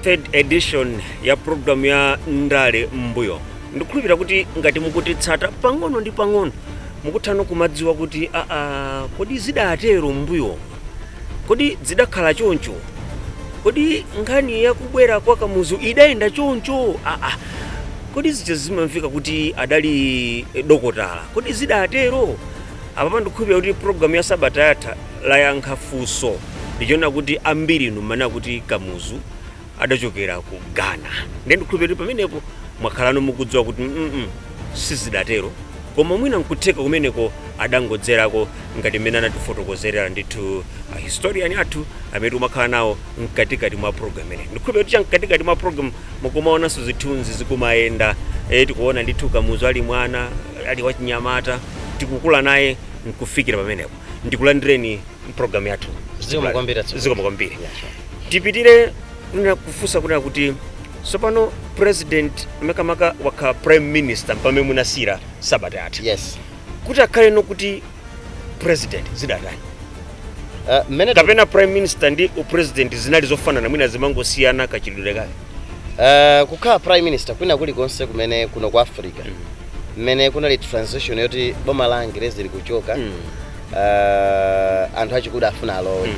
third edition ya programu ya ndale m'mbuyo ndikukhulupirira kuti ngati mukutitsata pang'ono ndi pang'ono mukutha kumadziwa kuti aa kodi zidatero m'mbuyo Kodi zidakhala choncho? Kodi nkhani ya kubwera kwa Kamuzu idayenda choncho? Aa, kodi zija zimamveka kuti adali eh, dokotala? Kodi zidatero? Apapa ndikukhulupirira kuti programu ya sabata yatha layankha funso lija poona kuti ambiri inu mmanena kuti Kamuzu adachokera ku ghana nde ndikhulupirira kuti pamenepo mwakhalano mukudziwa kuti mm sizidatero koma mwina nkutheka kumeneko adangodzerako ngati mmene anatifotokozerera ndithu a historian athu amene tikumakhala nawo mkatikati mwa program imeneyi ndikhulupirira kuti cha mkatikati mwa program mukumaonanso zithunzi zikumayenda e, tikuona ndithu kamuzu ali mwana ali wachinyamata tikukula naye nkufikira pamenepo ndikulandireni mpulogalamu yathu Zikomo kwambiri, tipitire kunena kufunsa kunena kuti tsopano president makamaka wakhala prime minister mpamene munasiyira sabata yatha yes kuti akhale nokuti president zidatani uh, kapena prime minister ndi upresident zinali zofanana mwina zimangosiyana kachitidwe kake Uh, kukhala prime minister kwina kulikonse kumene kuno ku africa mmene kunali transition yoti boma la angerezi likuchoka uh, anthu achikuda afuna alowe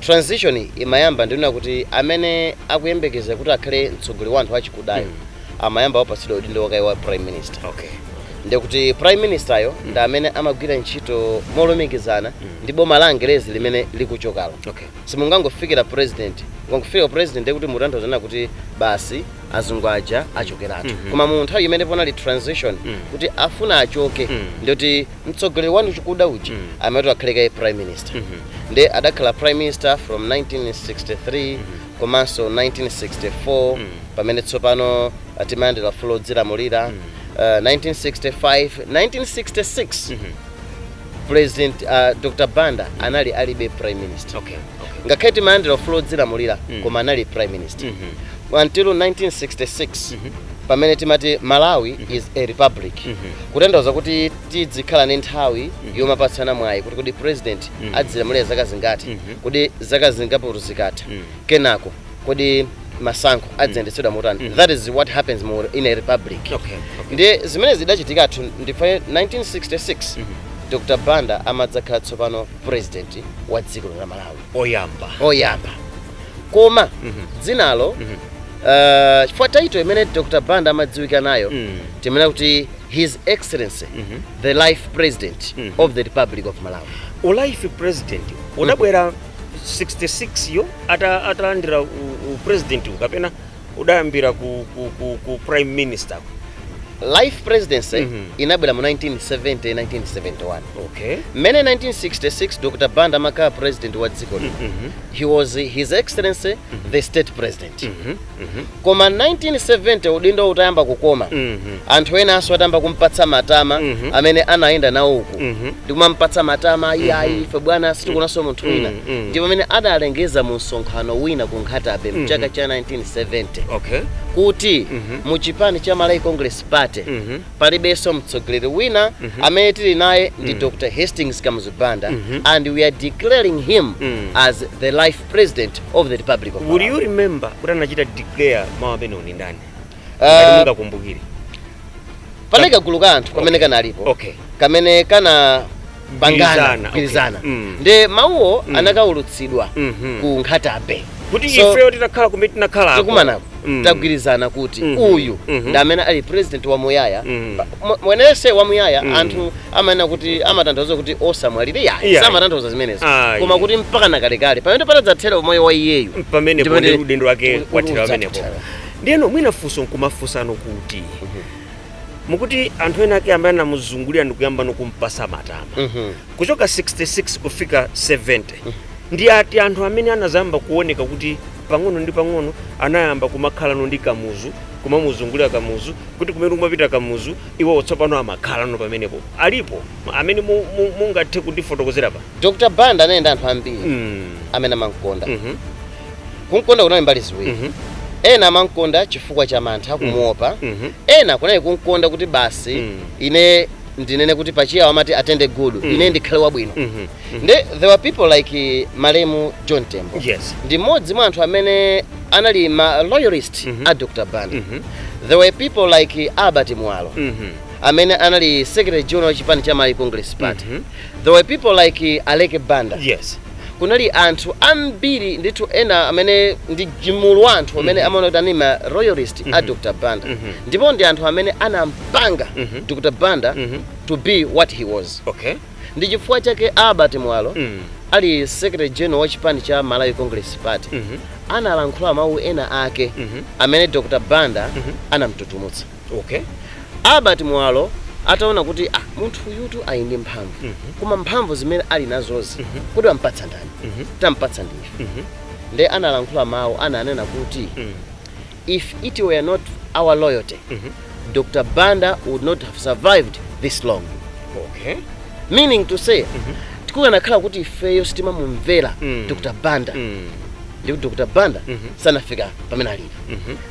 transition imayamba ndi kunena kuti amene akuyembekeza kuti akhale mtsogoleri wa anthu achikudayo amayamba apatsidwa udindo kaye wa prime minister okay ndikuti prime minister yo ndi amene amagwira ntchito molumikizana ndi boma la angerezi limene likuchokalo okay simungangofikira president kungofikira president ndekuti mutanthauza kunena kuti basi azungu aja achokeratu koma mu nthawi imene panali transition kuti afuna achoke ndikuti mtsogoleri wa anthu achikuda uja amati akhale kaye prime minister nde adakhala prime minister from 1963 komanso 1964 pamene tsopano uh, timayandira ufulu odzilamulira uh, 1965 1966 President uh, Dr. Banda anali adakali prime minister. Okay. okay. Ngakhale timayandira ufulu odzilamulira mm. koma anali prime minister. Mm -hmm. Until 1966 mm -hmm. pamene timati Malawi mm -hmm. is a republic. Mm -hmm. Kutanthauza kuti tidzikhala ndi nthawi mm -hmm. yomapatsana mwayi kuti kodi president mm -hmm. adzilamulira zaka zingati mm -hmm. kuti zaka zingapo zikatha mm -hmm. kenako kodi masankho aziyendetsedwa motani mm. that is what happens mu in a republic okay, okay. ndi zimene zidachitikatu ndi pa 1966 mm -hmm. dr banda amadzakhala tsopano president wa dziko la malawi oyamba oyamba koma mm -hmm. dzinalo mm -hmm. uh, chifukwa title imene dr banda amadziwika nayo mm -hmm. timanena kuti his excellency mm -hmm. the life president mm -hmm. of the republic of malawi ulife president unabwera mm 66 yo ata- atalandira u- upresident wo kapena udayambira ku, ku, ku, ku prime minister life presidency Mhm. inabwera mu 1970 1971 okay mmene 1966 dr banda amakhala president wa dziko lino Mhm. he was his excellency the state president Mhm. Koma 1970 udindo utayamba kukoma, anthu enanso atayamba kum'patsa matama, amene amayenda nawo uku ndi kumam'patsa matama, Iyayi, ife bwana sitikuonanso munthu wina, ndi pamene adalengeza mu msonkhano wina ku Nkhata-bay m'chaka cha 1970 kuti mu chipani cha Malawi Congress Party palibenso mtsogoleri wina, amene tili naye ndi Dr Hastings Kamuzu Banda and we are declaring him as the life President of the Republic of Malawi. Would you remember kuti anachita declare mawu amenewo ndi ndani? Uh, ah, mungakumbukire. Panali kagulu ka anthu kamene kanalipo. Okay. Kamene kanapangana kugwirizana okay. mm. nde mawuwo mm. anakaulutsidwa mm -hmm. ku Nkhata Bay kuti so, ifeyo titakhala kumene tinakhala tikumanako mm. tagwirizana kuti mm -hmm. uyu mm -hmm. ndi amene ali president wa muyaya mm. mumvetse wa muyaya mm. anthu amanena kuti amatanthauza kuti osamwalira iyayi. samatanthauza zimenezo ah, koma kuti mpaka nakalekale pamene patadzathera umoyo wa iyeyu pamenepo nde udindo wake wathera pamenepo ndiyeno mwina funso nkumafunsano kuti mm -hmm mukuti anthu ena ake amene anamuzungulira ndikuyamba nokumpasa matama mm -hmm. kuchoka 66 kufika 70 mm -hmm. ndi ati anthu amene anazayamba kuoneka kuti Pang'ono ndi pang'ono anayamba kumakhalano ndi Kamuzu, kumamuzungulira Kamuzu, kuti kumene kumapita Kamuzu iwowo tsopano amakhalano pamenepo. Alipo amene mu- mu- mungathe kundifotokozera pa? Dr. Banda anali ndi anthu ambiri Mm. amene amamkonda. Mhm. Kumkonda kunali mbali ziwiri. Mhm. Ena amamkonda chifukwa cha mantha kumuopa. Mhm. Ena kunali kumkonda kuti basi Mm. ine ndinene kuti pa Chiyawo amati atende gudu, Mm. ine ndikhale wabwino. Mhm. nde there were people like malemu john tembo Yes. ndi mmodzi mwa anthu amene anali ma loyalist Mhm. a dr banda Mhm. there were people like albert mwalo Mhm. amene anali secretary general wa chipani cha malawi congress party Mhm. there were people like aleke banda Yes. kunali anthu ambiri ndithu ena amene ndi chimulu cha anthu amene amaona kuti anali ma loyalist a dr banda Mhm. ndipo ndi anthu amene anampanga Mhm. dr banda Mhm. to be what he was Okay. Ndi chifukwa chake a Albert Mwalo ali Secretary General wa chipani cha Malawi Congress Party analankhula mau ena ake amene Dr Banda anamututumutsa. Okay. Albert Mwalo ataona kuti ah, munthu uyutu ali ndi mphamvu koma mphamvu zimene ali nazozi kodi ampatsa ndani? Tampatsa ndi ife. Nde analankhula mau ananena kuti If it were not our loyalty, Dr. Banda would not have survived this long. Okay. Meaning to say, chikanakhala kuti ifeyo sitimamumvera Mm. Dr. Banda Mm. ndi kuti Dr. Banda sanafika pamene alipo.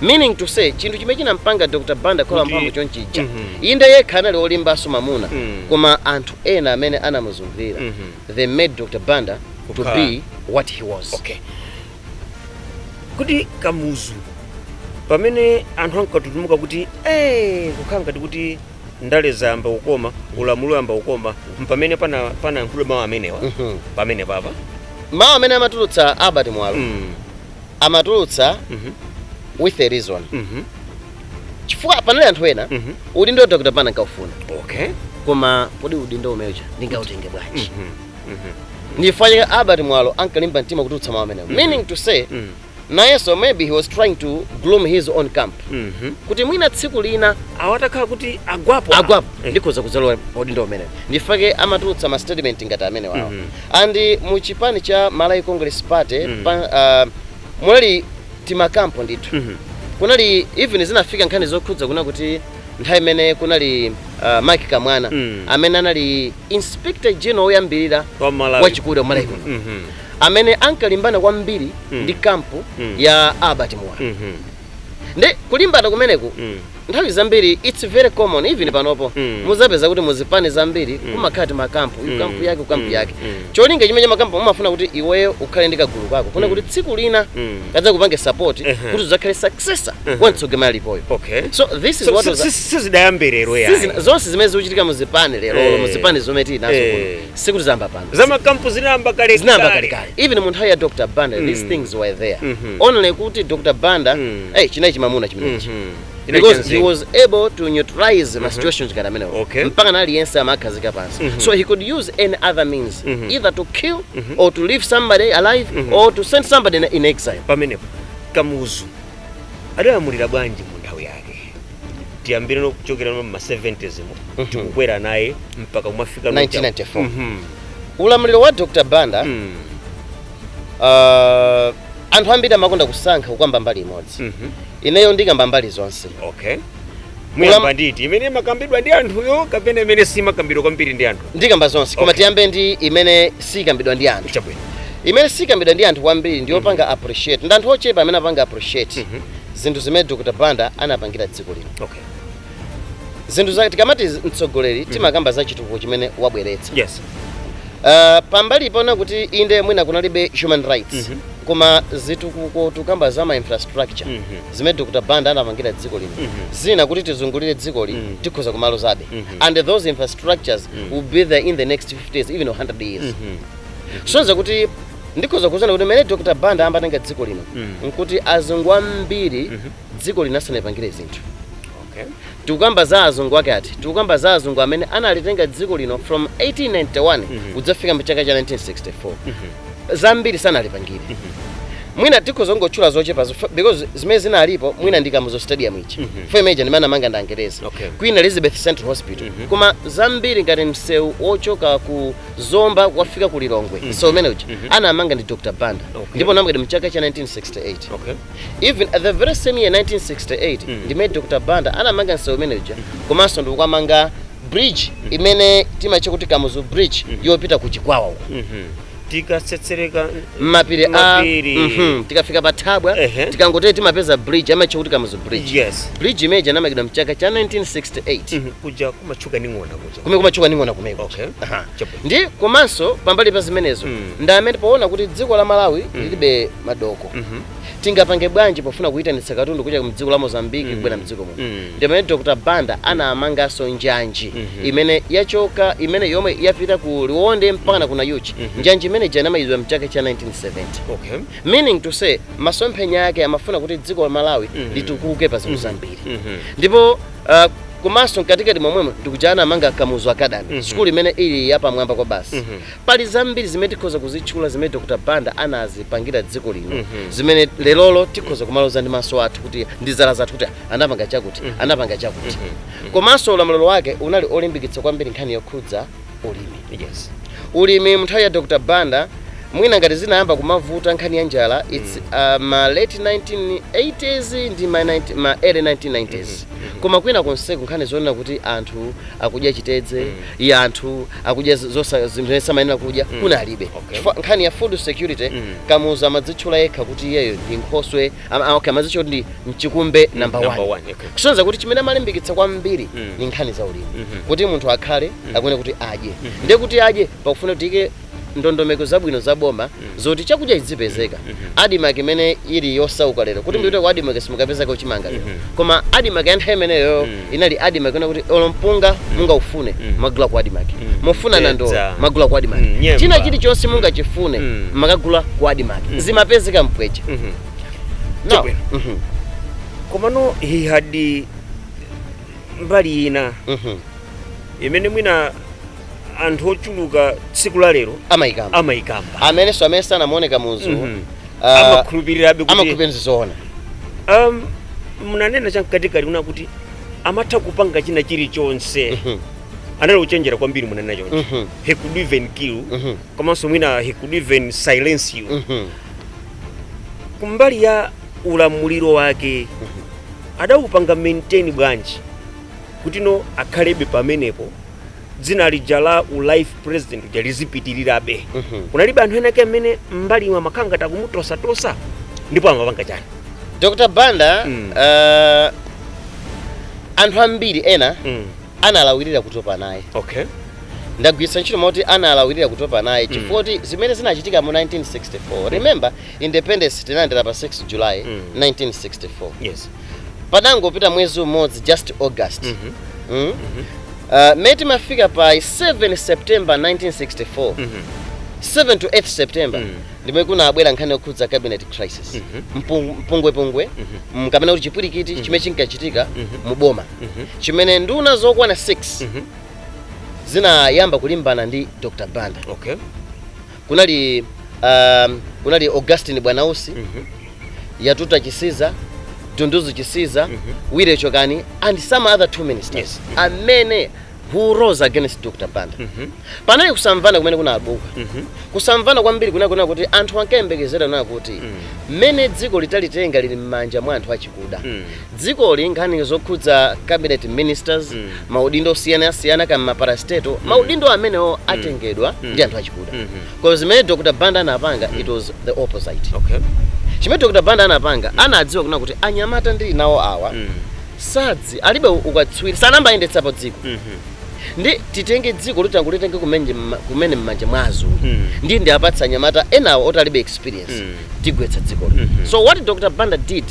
Meaning to say, chinthu chimene chinampanga Dr. Banda kukhala Kuti- wamphamvu chonchija. Mhm. Inde yekha anali olimbanso mamuna, Mm. koma anthu ena amene anamuzungulira, Mhm. they made Dr. Banda to Kukhala- be what he was. Okay. kodi kamuzu pamene anthu ankatutumuka kuti eh, kukhala ngati kuti ndale zayamba kukoma ulamuliro wayamba kukoma mpamene pana- panayankhula mawu amenewa Mhm. pamenepa pa mawu amene amatulutsa albert mwalo Mm, amatulutsa mhm, with a reason mhm, chifukwa panali anthu ena mhm. udindo wa dr banda ankawufuna okay koma kodi udindo umenewu ndingautenge bwanji Mhm. ndifukwa chake albert mwalo ankalimba mtima kutulutsa mawu amenewo meaning to say nayenso maybe he was trying to groom his own camp kuti mwina tsiku lina awa atakhala kuti agwapo agwapo Eh. ndikhoza kudzalowa udindo umenewo ndifake amatulutsa ma statement ngati amene wawo and mu chipani cha malawi congress party pa, ah, munali timakampo ndithu kunali even zinafika nkhani zokhudza kuna kuti Nthawi imene kunali uh, Mike Kamwana mm. amene anali Inspector General woyambirira wachikuda wa Malawi kuno mm -hmm. amene ankalimbana kwambiri mm. ndi kampu mm. ya Albert Mwalo mm -hmm. nde kulimbana kumeneku mm. nthawi zambiri it's very common even panopo mm. muzapeza kuti muzipani zambiri mm. kumakhala timakampu mm. kampu yake kampu mm. yake mm. cholinga chimene makampu umafuna kuti iweyo ukhale ndi kagulu kako kuti mm. kuti tsiku lina mm. kadzakupange support Ehe. kuti udzakhale successor wa mtsogoleri alipoyo okay so this is So, what si- was si- sizidayambe lero Sizina- yayi zonse zimene zikuchitika muzipani lero Eh. muzipani zomwe tili nazo Eh. kuno sikuti zamba pano zamakampu zinayamba kale zinayamba kale. kalekale even mu nthawi ya dr banda these things were there Mhm. only kuti dr banda Mm. eh, chinali chimamuna chimenechi Mhm. because he was able to neutralize mm -hmm. situations ngati amenewo okay. mpaka na aliyense amakhazika pansi mm -hmm. so he could use any other means mm -hmm. either to kill mm -hmm. or to leave somebody alive mm -hmm. or to send somebody in, in exile pamenepo kamuzu adalamulira bwanji mu nthawi yake tiyambire nokuchokera no mma 70s mo mm -hmm. tikukwera naye mpaka kumafika 1994 mm -hmm. ulamuliro wa dr banda mm. uh, anthu ambiri amakonda kusankha kukamba mbali imodzi mm -hmm. ineyo ndikamba mbali zonse okay muyamba ndi iti imene imakambidwa ndi anthuyo kapena imene simakambidwa kwambiri ndi anthu ndikamba zonse koma Okay. tiyambe ndi imene sikambidwa ndi anthu chabwino imene sikambidwa ndi anthu kwambiri ndi yopanga appreciate ndi anthu ochepa amene apanga appreciate zinthu zimene dr banda anapangira dziko lino okay zinthu zake tikamati mtsogoleri timakamba za chitukuko chimene wabweretsa yes Uh, pambali ponena kuti inde mwina kunalibe human rights Mhm. koma zitukuko tukamba za ma infrastructure Mhm. zimene dr banda anapangira dziko lino Mhm. zina kuti tizungulire dziko lino Mhm. tikhoza kumalozabe Mhm. and those infrastructures will be there in the next 50 years even 100 years Mhm. kusonyeza kuti ndikhoza kunena kuti mene dr banda amatenga dziko lino Mhm. nkuti azungu ambiri dziko lino sanalipangire zinthu okay. tikukamba za azungu ake ati tikukamba za azungu amene analitenga dziko lino from 1891 Mhm. kudzafika mchaka cha 1964 Mhm. zambiri sanalipangire mwina tikhoza kungotchula zochepa zo- because zimene zinalipo mwina ndi kamuzu stadium ichi Mhm. fomeja ndimene anamanga ndi angereza Okay. queen elizabeth central hospital Mhm. koma zambiri ngati msewu ochoka ku zomba kukafika ku lilongwe Mhm. msewu umene uja Mhm. anamanga ndi dr banda Okay. ndipo unamangidwa mchaka cha 1968 okay. Even the very same year 1968 ndimene Dr Banda anamanga msewu umene uja komanso ndikuja anamanga bridge imene timatcha kuti Kamuzu bridge yopita ku Chikwawa uko tikatsetsereka mmapiri a Mapiri. Mhm. tikafika pa thabwa Ehe. tikangotee timapeza bridge amatcha kuti Kamuzu bridge yes bridge imene ija inamangidwa mchaka cha 1968 Mhm. kuja kumatchuka ndi ng'ona kuja kumene kumatchuka ndi ng'ona kumeko Okay. Aha. Chab- Ndi komanso pambali pa zimenezo mm. ndi amene poona kuti dziko la Malawi mm. lilibe madoko mm -hmm. tingapange bwanji pofuna kuyitanitsa katundu kuchokera mdziko la Mozambique mm. kubwera mdziko muno mm. ndi pamene Dr. Banda anamanganso njanji mm -hmm. imene yachoka imene yomwe yapita ku Liwonde mpakana ku Nayuchi mm -hmm. njanji imene ija inamalizidwa mchaka cha 1970 okay. meaning to say masomphenya yake amafuna kuti dziko la Malawi mm -hmm. litukuke pa zinthu mm-hmm. zambiri mm -hmm. ndipo Uh, komanso mkatikati momwemo ndikuja anamanga kamuzu academy mm -hmm. sukulu imene ili yapamwamba kwabasi mm -hmm. pali zambiri zimene tikhoza kuzitchula zimene dr banda anazipangira dziko lino mm -hmm. zimene lerolo tikhoza kumaloza ndi maso athu kuti ndi zala zathu kuti anapanga chakuti mm -hmm. anapanga chakuti mm -hmm. komanso ulamuliro wake unali olimbikitsa kwambiri nkhani yokhudza ulimi yes ulimi mnthawi ya dr banda mwina ngati zinayamba kumavuta nkhani ya njala its uh, ma late 1980s ndi ma, 90, ma early 1990s koma kwina konseko nkhani zonena kuti anthu akudya chitedze mm. anthu akudya z- zosa- zinthu zimene samayenera kudya kunalibe Okay. Chifukwa nkhani ya food security kamuzu amadzitchula yekha kuti iyeyo ndi nkhoswe Am- ah, okay amazitcha kuti ndi mchikumbe number Number 1 one, okay. kusonyeza kuti chimene amalimbikitsa kwambiri Mm. ni nkhani za ulimi Mhm. kuti munthu akhale akuyenera kuti adye ndiye kuti adye pakufuna kuti uike ndondomeko zabwino za boma zoti chakudya chizipezeka admarc imene ili yosauka lero kuti mupite ku admarc simukapezako chimanga lero koma admarc ya nthawi imeneyo inali admarc kunena kuti olo mpunga mungaufune Mm. mumakagula ku admarc Mm. mufuna Mtedza. nandolo mumagula ku admarc Mm, nyemba. china chilichonse mungachifune Mm. mumakagula ku admarc Mm. zimapezeka mpweche Mhm. Now, Chabwino. mhm, komano he had eh, mbali ina mhm. imene mwina anthu ochuluka tsiku la lero amayikamba amayikamba amenenso amene sanamuone kamuzu Mhm. ah, amakhulupirirabe kuti amakhulupirira zoona um, munanena chamkatikati kunena kuti amatha kupanga china chilichonse Mhm. anali ochenjera kwambiri munanena choncho Mhm. he could even kill Mhm. komanso mwina he could even silence you Mhm. kumbali ya ulamuliro wake adawupanga maintain bwanji kuti no akhalebe pamenepo dzina lija la u life president uja lizipitirirabe Mhm. kunalibe anthu enake amene m'mbalimu amakhala ngati akumutosatosa ndipo amapanga chani dr banda Mm. eh, anthu ambiri ena mm. analawirira kutopa naye okay ndagwiritsa ntchito mawu oti analawirira kutopa naye chifukwa choti zimene zinachitika mu 1964 remember independence tinalandira pa 6 july Mm. 1964 yes patangopita mwezi umodzi just august mm -hmm. mm? uh, mmene timafika pa 7 september 1964 mm -hmm. 7 to 8 september mm -hmm. ndi mmene kunabwera nkhani yokhudza cabinet crisis mm -hmm. Mpung, mpungwepungwe mm -hmm. kapena kuti chipwirikiti mm -hmm. chimene chinkachitika mm -hmm. mu boma mm -hmm. chimene nduna zokwana 6 mm -hmm. zinayamba kulimbana ndi dr banda okay. kunali um, kunali augustine bwanausi yatuta chisiza dunduzu chisiza willie chokani and some other two ministers Yes. amene who rose against dr banda panali kusamvana kumene kunabuka kusamvana kwambiri kunali kunena kuti anthu ankayembekezera kunena kuti mmene dziko litalitenga lili m'manja mwa anthu achikuda dzikoli nkhani zokhudza cabinet ministers Mm. maudindo osiyanasiyana kaya m'maparastatal maudindo amenewo atengedwa Mm. ndi anthu achikuda Mhm. koma zimene dr banda anapanga it was the opposite okay chimene dr banda anapanga anadziwa kunena kuti anyamata ndili nawo awa Mm. sadzi alibe ukatswiri sanayambe ayendetsapo dziko Mhm. ndi titenge dziko loti angolitenga kumene mma- kumene m'manja mwa azungu Mm. ndi ndi apatsa anyamata enawo oti alibe experience Mm. tigwetsa dziko lino Mhm. so what dr banda did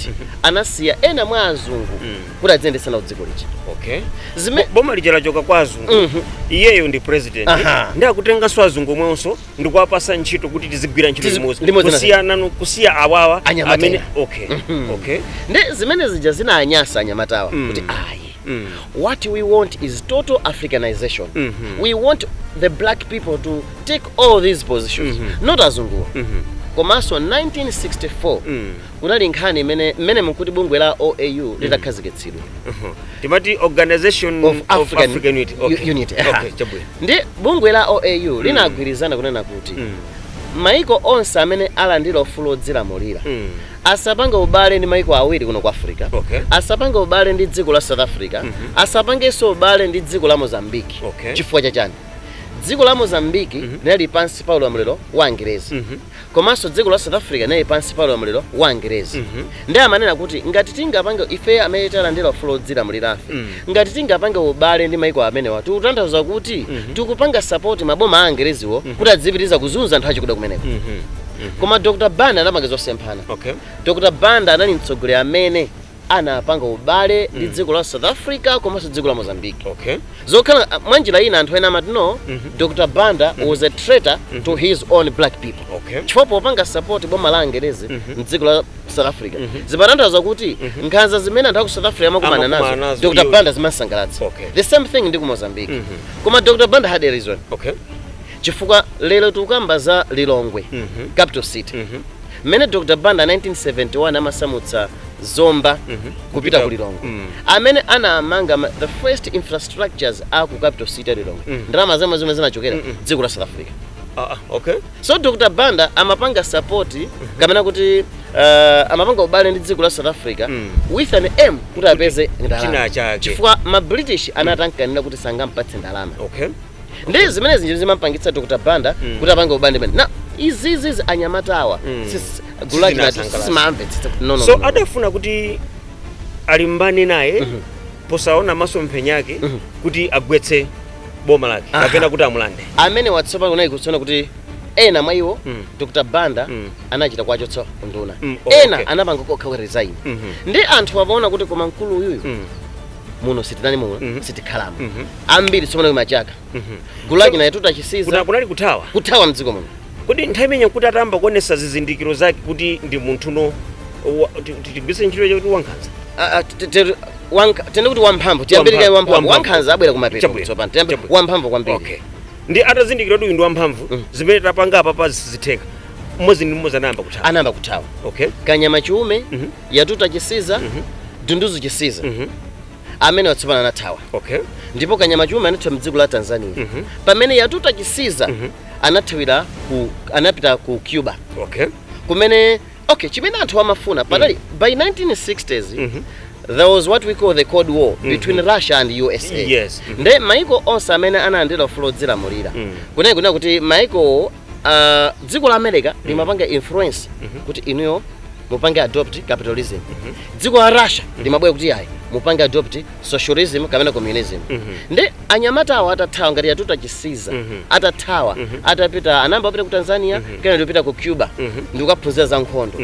anasiya ena mwa azungu Mm. kuti adziyendetsa nawo dziko lija okay zimene boma lija lachoka kwa azungu Mhm. iyeyo ndi president Aha. ndiye akutenganso azungu omwenso ndi kuwapatsa ntchito kuti tizigwira ntchito Tizi- limodzi limodzi na- kusiyana no- kusiya awawa Anyamata amene ena. okay Mhm. okay ndiye zimene zija zinanyansa anyamatawa Mm. kuti ayi mm. what we want is total africanization mm -hmm. we want the black people to take all these positions mm -hmm. not azunguwa mm -hmm. komanso 1964 mm. kunali nkhani imene mmene mkuti bungwe la oau mm. litakhazikitsidwa mm. uh -huh. timati organization of african, of african unity, okay. unity. Okay. ndiye bungwe la oau mm. linagwirizana kunena kuti mm. maiko onse amene alandira ufulu odzilamulira mm. asapange ubale ndi maiko awiri kuno ku africa, Okay. asapange ubale ndi dziko la south africa, asapangenso ubale ndi dziko la mozambique. Okay. chifukwa chachani? dziko la mozambique linali pansi pa ulamuliro wa angerezi komanso dziko la south africa linali pansi pa ulamuliro wa angerezi ndiye amanena kuti ngati tingapange ife amene talandira ufulu wodzilamulirafe Ngati tingapange ubale ndi maiko amenewa tikutanthauza kuti tikupanga sapoti maboma a Angereziwo kuti adzipitiriza kuzunza anthu achikuda kumeneko. Koma Dr. Banda anapanga zosemphana. Dr. Banda anali mtsogoleri amene anapanga ubale ndi dziko la South Africa komanso dziko la Mozambique. Zokhala mwanjira ina anthu ena amati no, Dr. Banda was a traitor to his own black people. Chifukwa popanga sapoti boma la Angerezi m'dziko la. South Africa Mhm. zimatanthauza kuti Mhm. nkhanza zimene anthu aku South Africa amakumana Amakumana nazo nazo, Dr iwo- Banda zimamsangalatsa Okay. the same thing ndi ku Mozambique Mhm. koma Dr Banda had a reason okay chifukwa lero tikukamba za Lilongwe Mhm. capital city Mhm. mmene Dr Banda 1971 amasamutsa Zomba Mhm. kupita ku Lilongwe Mm. amene anamanga ma- the first infrastructures a ku capital city ya Lilongwe Mm. ndalama zomwe zomwe zinachokera Mm-mm. dziko la South Africa Ah, ah, okay So Dr Banda amapanga support kapena kuti uh, amapanga ubale ndi dziko la South Africa Mm. with an aim kuti apeze China ndalama chake. chifukwa ma British anatamkanira kuti sangampatse ndalama okay ndi zimene zija zimampangitsa Dr Banda Mm. kuti apange ubale ndi nde izizizi anyamatawa Mm. sis- gulu lake anali Sizinasangalatsa. samamvetsetsa kuti no no so no, no. adafuna kuti alimbane naye posaona masomphenya ake kuti agwetse boma lake Aha. kapena kuti amulande amene watsopano kunali kuona kuti ena mwa iwo Mm. dr banda Mm. anachita kuwachotsa unduna Mm, oh, ena okay. anapanga okha ku resign Mhm. ndiye anthu amaona kuti koma mkulu uyuyu Mm, muno sitinali muno Mhm. sitikhalamo mhm, ambiri tsopano kumachoka mhm. gulu lake la a Kuna- Yatuta Chisiza kunali kuthawa kuthawa mdziko muno kodi nthawi imene kuti atayamba kuonetsa zizindikiro zake kuti ndi munthu no wa- ti- ti- tigwiritse ntchito yakuti wankhanza Ah, ah, te- te- Wank- tinene kuti wamphamvu tiyambire kaye wamphamvu Wamphamvu. wankhanza abwera kumapeto Chabwino. tsopano tiyambire Chabwino. wamphamvu kwambiri okay ndi atazindikira kuti uyu ndi wamphamvu Mm. zimene tapanga apapa sizitheka mmodzi ndi mmodzi anayamba kuthawa anayamba kuthawa okay kanyama Chiume Mhm. Yatuta Chisiza Mhm. Dunduzu chisiza Mhm. amene watsopana anathawa okay ndipo kanyama chiume anathawa mdziko la tanzania Mhm. pamene yatuta chisiza Mhm. anathawira ku anapita ku cuba okay kumene okay chimene anthu amafuna padali mm. by 1960s mm -hmm. there was what we call the cold war mm -hmm. between russia and usa yes. mm -hmm. nde maiko onse amene analandira ufulu odzilamulira mm. kunene kunena kuti maiko uh, dziko la america mm. limapanga influence mm -hmm. kuti inuyo mupange adopt capitalism mm -hmm. dziko la russia mm -hmm. limabwera kuti ayi mupange adopt socialism kapena communism mm -hmm. nde anyamatawa atathawa ngati yatuta chisiza atathawa atapita anayamba kupita ku tanzania kenako ndikupita ku cuba ndikukaphunzira za nkhondo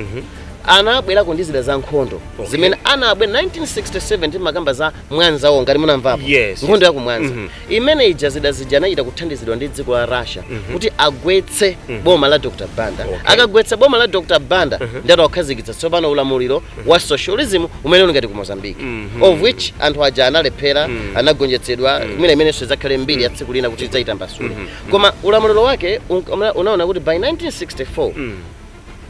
anabwerako ndi zida za nkhondo Okay. zimene anabwera 1967 timakamba za mwanza war ngati munamvapo Yes, nkhondo yes. ya ku mwanza Mhm. imene ija zida zija anachita kuthandizidwa ndi dziko la russia kuti agwetse boma la dr banda Okay. akagwetsa boma la dr banda ndiye akhazikitsa tsopano ulamuliro wa socialism umene uli ngati ku mozambique of which anthu aja analephera anagonjetsedwa mwina imenenso idzakhale mbiri ya tsiku lina kuti tidzaitambasule koma ulamuliro wake un- una- unaona kuti by 1964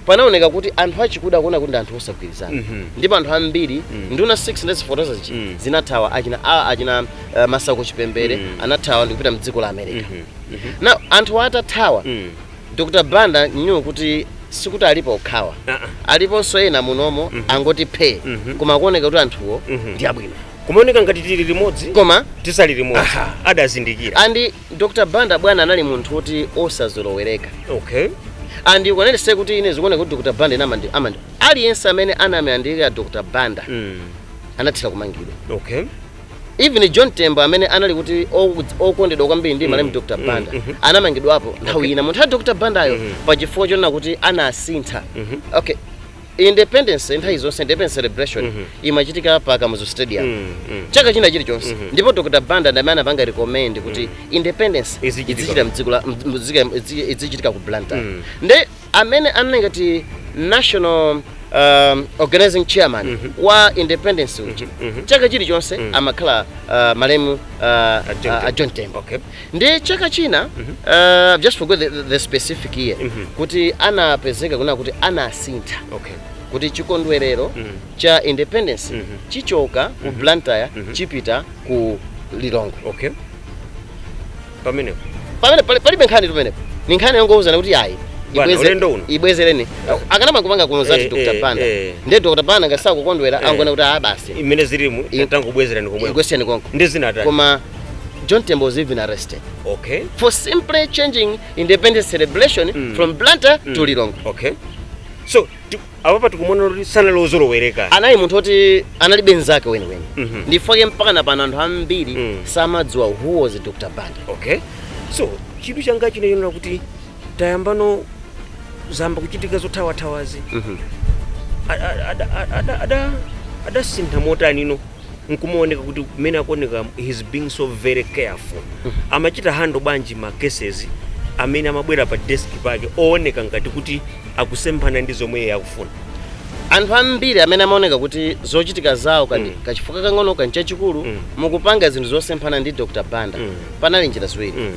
panaoneka kuti anthu achikuda akuona kuti ndi anthu osagwirizana ndipo anthu ambiri nduna 6 ndazifotokoza zija zinathawa achina achina uh, Masauko Chipembere anathawa ndikupita mdziko la america now anthu atathawa Dr Banda knew kuti sikuti alipo okhawa Ah, ah. aliponso ena munomo angoti phee Mhm. koma kuoneka kuti anthuwo Mhm. ndi abwino kumaoneka ngati tili limodzi koma tisali limodzi Aha. adazindikira and dr banda bwana anali munthu woti osazolowereka okay and ukaonetse kuti ine zikuoneka kuti dr banda ine amandi amandi aliyense amene anamuyandikira dr banda mm. anathira kumangidwa okay even john tembo amene anali kuti oku- okondedwa kwambiri ndi malemu dr banda anamangidwapo nthawi ina munthawi ya dr bandayo pa chifukwa chonena kuti anasintha okay independence nthawi zonse independence celebration imachitika pa kamuzu stadium chaka china chilichonse ndipo dr banda ndamene anapanga recommend kuti independence Izichitika. izichita mdziko la mdzika- izi- izichitika ku blantyre nde amene anali ngati national um, organizing chairman mm -hmm. wa independence mm -hmm. chaka chilichonse mm -hmm. amakhala uh, malemu uh, uh, John Tembo okay. ndi chaka china mm -hmm. uh, just forget the, the specific year mm -hmm. kuti anapezeka kunena kuti anasintha okay kuti chikondwerero mm -hmm. cha independence mm -hmm. chichoka ku mm -hmm. Blantyre mm -hmm. chipita ku Lilongwe okay. pamenepo pamene pali- palibe nkhani tu penepo ni nkhani yongouzana kuti ayi Bwana, ibweze- ulendo uno. ibwezereni akanamakapanga kuno zati Eh, dr eh, banda eh. ndiye dr banda ngati sakukondwera Eh. angona kuti a basi mmene zilimu I- tangobwezerani komweko ikwesiyani konko ndi zinatani koma john tembo was even arrested okay for simply changing independence celebration Mm. from blantyre to lilongwe okay so apapa tikumonera kuti sanali ozolowereka anali munthu oti analibe nzake weniweni Mhm. ndi chifukwa chake mpaka na pano anthu ambiri Mm. samadziwa who was dr banda okay so chidwi changa chinachokera kuti tayamba ano zayamba kuchitika zothawathawazi Mhm. Ada- ada- ada- ada- ada- adasintha motani ino nkumaoneka kuti mmene akuoneka he's being so very careful amachita handle bwanji ma cases amene amabwera pa desk pake ooneka ngati kuti akusemphana ndi zomwe iye akufuna anthu ambiri amene amaoneka kuti zochitika zawo kani Mm. kachifukwa kang'ono kani chachikulu Mm. mukupanga zinthu zosemphana ndi dr banda Mm. panali njira ziwiri Mm,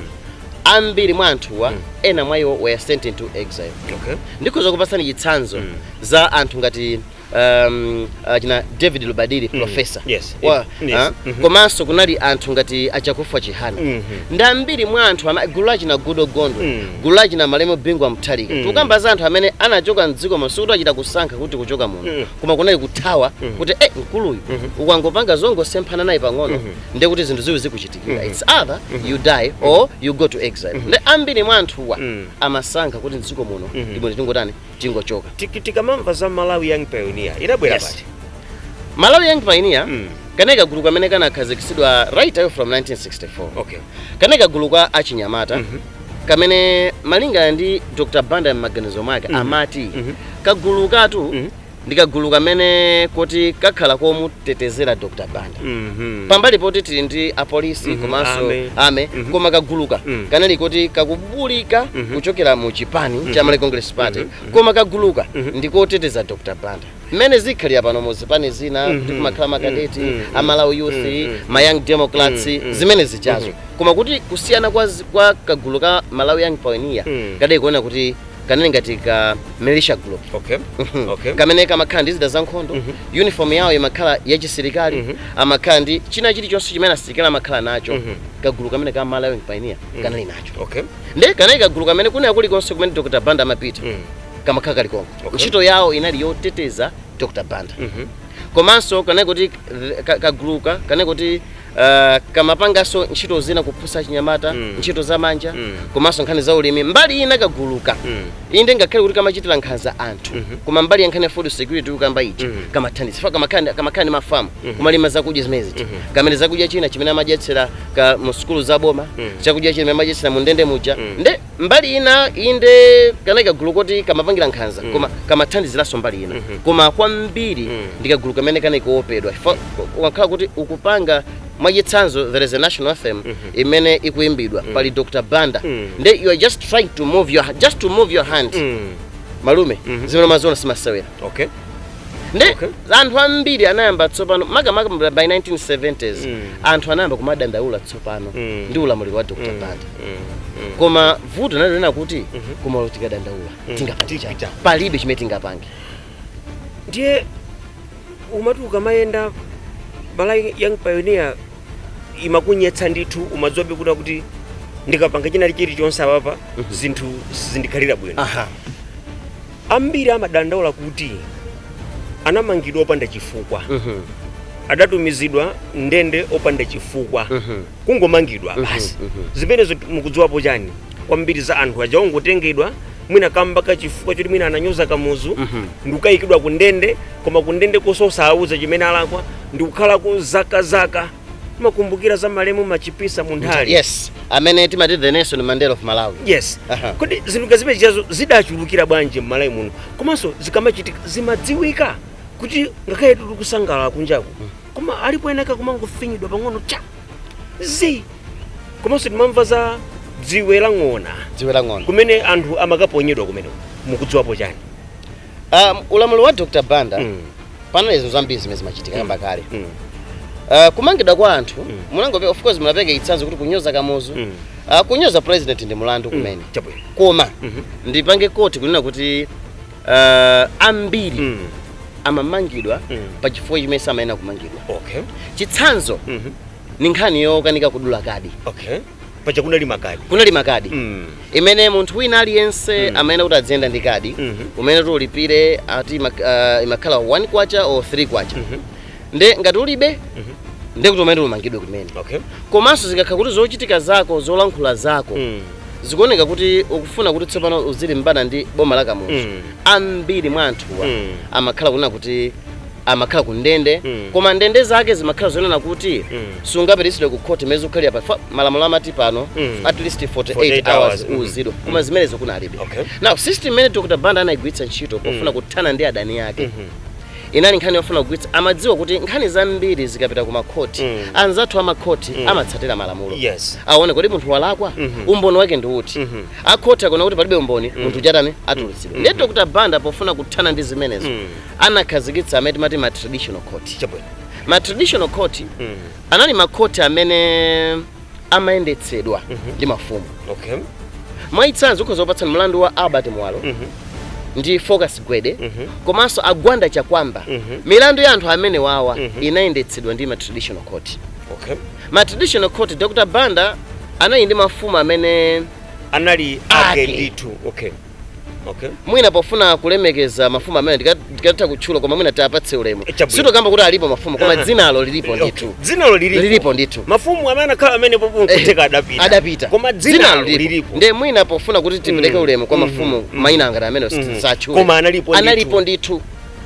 ambiri mwa anthuwa Mm. ena mwa iwo were sent into exile okay. ndikhoza kupatsani chitsanzo Mm. cha anthu ngati um, achina david rubadiri mm. profesa yes. wa, yes. Mm -hmm. komanso kunali anthu ngati achakufwa chihana mm -hmm. ndi ambiri mwa anthu gulu lachina goodall gondwe mm. gulu lachina malemu bingu wa mutharika mm. tukamba za anthu amene anachoka mdziko muno sikuti achita kusankha kuti kuchoka muno mm. koma kunali kuthawa mm. kuti eh, mkuluyu mm -hmm. ukangopanga zongosemphana naye pang'ono mm -hmm. ndiye kuti zinthu ziwiri zikuchitikira mm -hmm. it's either mm -hmm. you die or you go to exile mm -hmm. ndi ambiri mwa anthuwa mm. amasankha kuti mdziko muno mm -hmm. ndibwino tingotani tingochoka Tik- tikamamva za malawi young pioneer inabwera Yes. liti malawi young pioneer Mm. kanali kagulu kamene kanakhazikitsidwa right away from 1964 okay kanali kagulu ka achinyamata Mhm. kamene malinga ndi dr banda m'maganizo mwake Mhm. amati Mhm. kagulu katu Mhm. ndi kagulu kamene koti kakhala komutetezera dr banda Mhm. pambali poti tili ndi apolisi Mhm, komanso army. army Mhm. koma kaguluka Mhm. kanali koti kakubulika Mhm. kuchokera mu chipani cha Malawi Congress Party Mhm. koma kaguluka Mhm. ndikoteteza Dr Banda mmene zikhalira pano mu zipani zina Mhm. kuti kumakhala makadeti Mhm. Mhm. amalawi youth Mhm. ma young democrats Mhm. zimene zijazo Mhm. koma kuti kusiyana kwa, zi- kwa kagulu ka Malawi Young Pioneer Mhm. kadali kuona kuti kanali ngati ka militia group okay Mhm. okay kamene kamakhala ndi zida zankhondo Mhm. uniform yawo imakhala yachisilikali Mhm. amakhala ndi china chilichonse chimene asilikali amakhala nacho Mhm. kagulu kamene ka malawi pioneer Mhm. kanali nacho okay nde kanali kagulu kamene kanali kulikonse kumene dr banda amapita Mhm. kamakhala kali konko Okay. ntchito yawo inali yoteteza dr banda Mhm. komanso kanali kuti th- ka- kaguluka kanali kuti Uh, kamapanganso ntchito zina kuphunzitsa achinyamata mm. ntchito za manja mm. komanso nkhani za ulimi mbali ina kaguluka mm. inde ngakhale kuti kamachitira nkhanza anthu mm -hmm. koma mbali ya nkhani ya food security ukamba ichi mm -hmm. kamathandiza fa kamakhala kamakhala ndi mafamu mm -hmm. kumalima zakudya zimenezi mm -hmm. kamene chakudya china chimene amadyetsera ka mu sukulu za boma mm -hmm. chakudya chimene amadyetsera mu ndende muja mm -hmm. nde mbali ina inde kanali kagulu koti kamapangira nkhanza mm. koma kamathandiziranso mbali ina mm -hmm. koma kwambiri mm. ndi kagulu kamene kanali koopedwa ukakhala kuti ukupanga mwachitsanzo there is a national anthem mm -hmm. imene ikuimbidwa mm. pali dr banda mm. nde you are just trying to move your, just to move your hand mm. malume mm -hmm. zimene umaziona simasewera okay ndi Okay. anthu ambiri anayamba tsopano makamaka by 1970s Mm. anthu anayamba kumadandaula tsopano Mm. ndi ulamuliro wa dr Mm. banda Mm, mm. koma vuto linali lonena kuti koma olo tikadandaula Mm. tingapange Tipita. chani? palibe chimene tingapange ndiye umati ukamayenda Malawi young pioneer imakunyetsa ndithu umadziwabe kuda kuti ndikapanga china chilichonse apapa zinthu zindikhalira bwino aha Ambiri amadandaula kuti anamangidwa opanda chifukwa, adatumizidwa m'ndende opanda chifukwa, kungomangidwa basi. Zimenezo mukudziwapo chani kwambiri za anthu aja ongotengedwa mwina kamba ka chifukwa choti mwina ananyoza Kamuzu ndikukayikidwa kundende, koma kundendekonso osawauza chimene alakwa ndikukhalako zaka zaka. timakumbukira za malemu machipisa munthali yes amene timati the nelson mandela of malawi yes Aha. kodi zinthu ngati zimene zijazo zidachulukira bwanji m'malawi muno komanso zikamachitika zimadziwika kuti ngakhale tili kusangalala kunjaku koma alipo enaake akumangofinyidwa pang'ono cha zi komanso timamva za dziwe la ng'ona dziwe la ng'ona kumene anthu amakaponyedwa kumene mukudziwapo chani Um, ulamuliro wa Dr. Banda mm. panali zinthu zambiri zimene zimachitika mm. kamba kale mm. uh, kumangidwa kwa anthu mm. munangope of course munapereka chitsanzo kuti kunyoza kamuzu mm. uh, kunyoza president ndi mulandu mm. kumene mm. koma mm -hmm. ndipange koti kunena kuti uh, ambiri mm. amamangidwa mm. pa chifukwa chimene samayenera kumangidwa okay. chitsanzo mm -hmm. ni nkhani yokanika kudula kadi okay. paja kunali makadi kunali makadi mm. amene munthu wina aliyense mm. amayenera kuti adziyenda ndi kadi mm -hmm. umayenera kuti ulipire ati imak, uh, imakhala 1 kwacha or 3 kwacha mm -hmm. nde ngati ulibe mm -hmm. nde kuti umayenera umangidwe kumene okay. komanso zikakhala kuti zochitika zako zolankhula zako mm zikuoneka kuti ukufuna kuti tsopano uzilimbana ndi boma la kamuzu mm. ambiri mwa anthuwa mm. amakhala kunena kuti amakhala ku ndende Mm. koma ndende zake zimakhala zonena kuti Mm. sungapititsidwe ku khoti mezi ukhala pa fa- malamulo amati pano Mm. at least 48, 48 hours hours, mm. uuzidwe koma zimenezo kunalibe Okay. now system imene dr banda anayigwiritsa ntchito pofuna kuthana ndi adani ake inali nkhani yofuna kugwiritsa amadziwa kuti nkhani zambiri zikapita ku makhoti Mm. anzathu amakhoti amatsatira malamulo Yes. aone kuti munthu walakwa umboni wake ndi uti Mhm. akhoti akaona kuti palibe umboni munthu amatani atulutsidwa ndiye dr banda pofuna kuthana ndi zimenezo Mm. anakhazikitsa amene timati ma traditional court Chabwino. ma traditional court Mm. anali makhoti amene amayendetsedwa ndi mafumu Okay. mwachitsanzo ndikhoza kupatsani mlandu wa albert muwalo Mhm. ndi focus gwede Mhm. komanso a gwanda chakuamba Mhm. milandu ya anthu amenewawa Mhm. inayendetsedwa ndi ma traditional court Okay. ma traditional court dr banda anali ndi mafumu amene Anali ake Ake. ndithu. Okay. okay mwina pofuna kulemekeza mafumu amene ndika- ndikatha kutchula koma mwina tiwapatse ulemu Eh, chabwino. sitikukamba kuti alipo mafumu koma Aha. dzinalo lilipo ndithu dzinalo lilipo Lilipo ndithu. mafumu amene akhala amene pano nkutheka adapita adapita koma dzinalo lilipo nde mwina pofuna kuti tipereke Mm. ulemu kwa Mhm. mafumu Mhm. maina ngati amene Mhm. tisatchule Koma analipo ndithu. analipo ndithu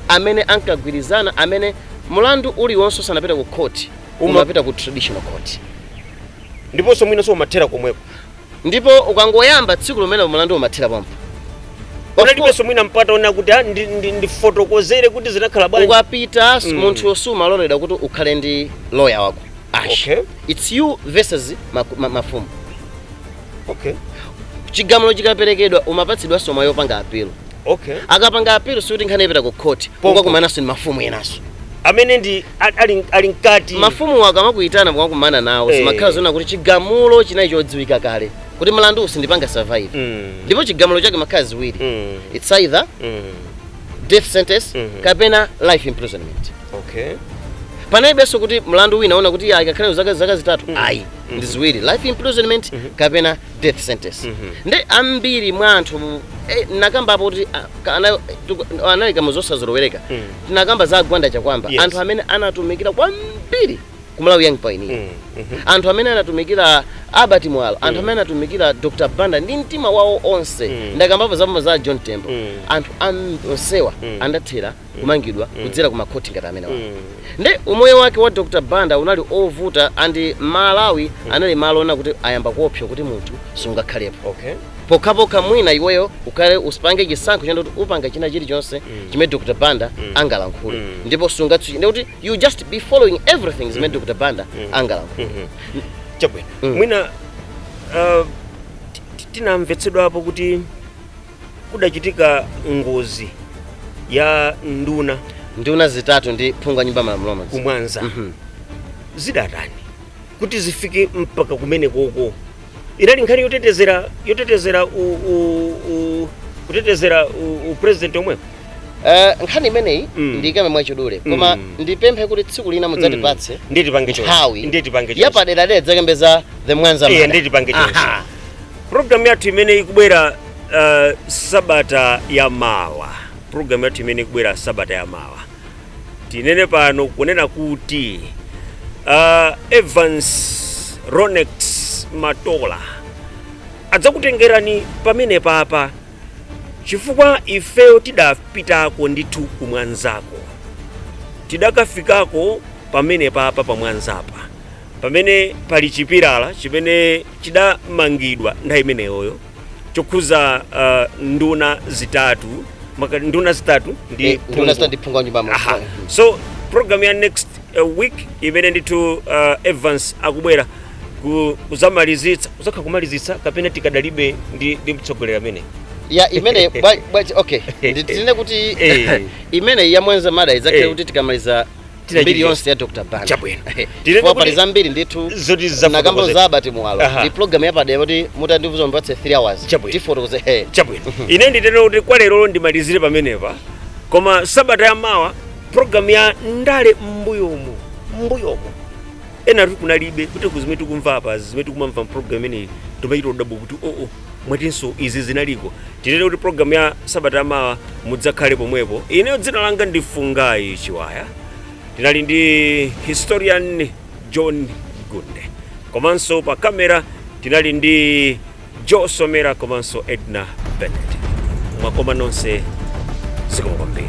amene ankagwirizana amene mlandu uliwonse usanapita ku court Uma- umapita ku traditional court ndiponso mwinanso umathera komweko ndipo ukangoyamba tsiku lomwelo mulandu umathera pompo panalibenso mwina mpata wonena kuti ah, ndi- ndi- ndifotokozere kuti zinakhala bwanji ukapita mm. munthu sumaloledwa kuti ukhale ndi loya wako ash Okay. its you versus maku- ma- mafumu okay chigamulo chikaperekedwa umapatsidwanso mwayi wopanga apilo okay ukapanga appeal sikuti nkhani ipita ku court kukakumananso ndi mafumu enanso amene ndi ali- ali ali mkati mafumu akamakuitana mukakumana nawo Eh. zimakhala zonena kuti chigamulo chinali chodziwika kale kuti mlandu uwu sindipanga survive Mm. ndipo chigamulo chake zimakhala ziwiri Mm. it's either Mm. death sentence Mhm. kapena life imprisonment okay panalibenso kuti mlandu wina wonena kuti ayi akakhale zaka zaka zitatu ayi ndi ziwiri life imprisonment kapena death sentence Mhm. nde ambiri mwa anthu mu- eh, nakamba apo kuti ah, ka- ana- tuku- tinaunika mu zosazolowereka Mm. tinakamba za a gwanda chakuamba Yes. anthu amene anatumikira kwambiri ku malawi young pioneer Mm, mhm. anthu amene anatumikira albert muwalo anthu amene anatumikira dr banda ndi mtima wawo onse Mm. ndakambapo zambo za john tembo Mm. anthu am- onsewa Mm. anathera kumangidwa kudzera ku makhoti ngati amenewa nde umoyo wake wa dr banda unali ovuta andi malawi anali malo onena kuti anayamba kuopsa kuti munthu sungakhalepo okay pokhapokha mwina iweyo ukhale upange chisankho chonena kuti upanga china chilichonse chimene dr banda angalankhule ndipo sungatsutse ndiye kuti you just be following everything zimene dr banda angalankhule chabwino mwina uh, ti- ti- tinamvetsedwa apo kuti kudachitika ngozi ya nduna nduna zitatu ndi phungu wa nyumba ya malamulo mmodzi ku Mwanza Mhm. zidatani kuti zifike mpaka kumene koko inali nkhani yotetezera yotetezera u, u, u, kutetezera u, u president omwepo Eh, nkhani imeneyi Mm. ndiyikambe mwachidule koma Mm. ndipemphe kuti tsiku lina mudzatipatse ndiye tipange chonse nthawi ndiye tipange chonse yapadera dera tidzakambe za the Mwanza Iye, murder. ndiye tipange chonse Aha. Program yathu imene ikubwera uh, sabata ya mawa, program yathu imene ikubwera sabata ya mawa, tinene pano kunena kuti uh, Evans Ronex Matola adzakutengerani pamene papa chifukwa ifeyo tidapitako ndithu ku Mwanzako tidakafikako pamene papa pa Mwanzapa pamene pali chipilala chimene chidamangidwa nthawi imeneyoyo chokhuza uh, nduna zitatu maka, nduna zitatu ndi Eh, nduna zitatu ndi phungu wa nyumba ya malamulo. Aha. so program ya next uh, week imene ndithu uh, evans akubwera ku- kuzamalizitsa uzakhala ukumalizitsa kapena tikadalibe ndi, ndi mtsogoleri amene ya imene bwa- bwa- okay nditere kuti Eh. imene ya Mwanza murder izakhale Eh. kuti tikamaliza Tira mbiri chipya. yonse ya dr Banda Chabwino. Tiri Chifukwa kuti- pali zambiri ndithu Zoti zafotokoze- nakamba za Albert Muwalo Aha. ndi program yapadera kuti mutandiuza mupatse 3 hours Chabwino. tifotokoze he chabwino ine nditero kuti kwa lero ndimalizire pamenepa koma sabata ya mawa programu ya ndale m'mbuyomo m'mbuyomo enafe kunalibe kuti kuzimene tikumva apa zimene tikumamva mpulogalamu imeneyi timachita kudabwa kuti oo mwatinso izi zinaliko tinene kuti programu ya sabata yamawa mudzakhale pomwepo ineyo dzina langa ndi fungai chiwaya tinali ndi historian john gunde komanso pa kamera tinali ndi joe somera komanso edna bennett mwakoma nonse zikomo kwambiri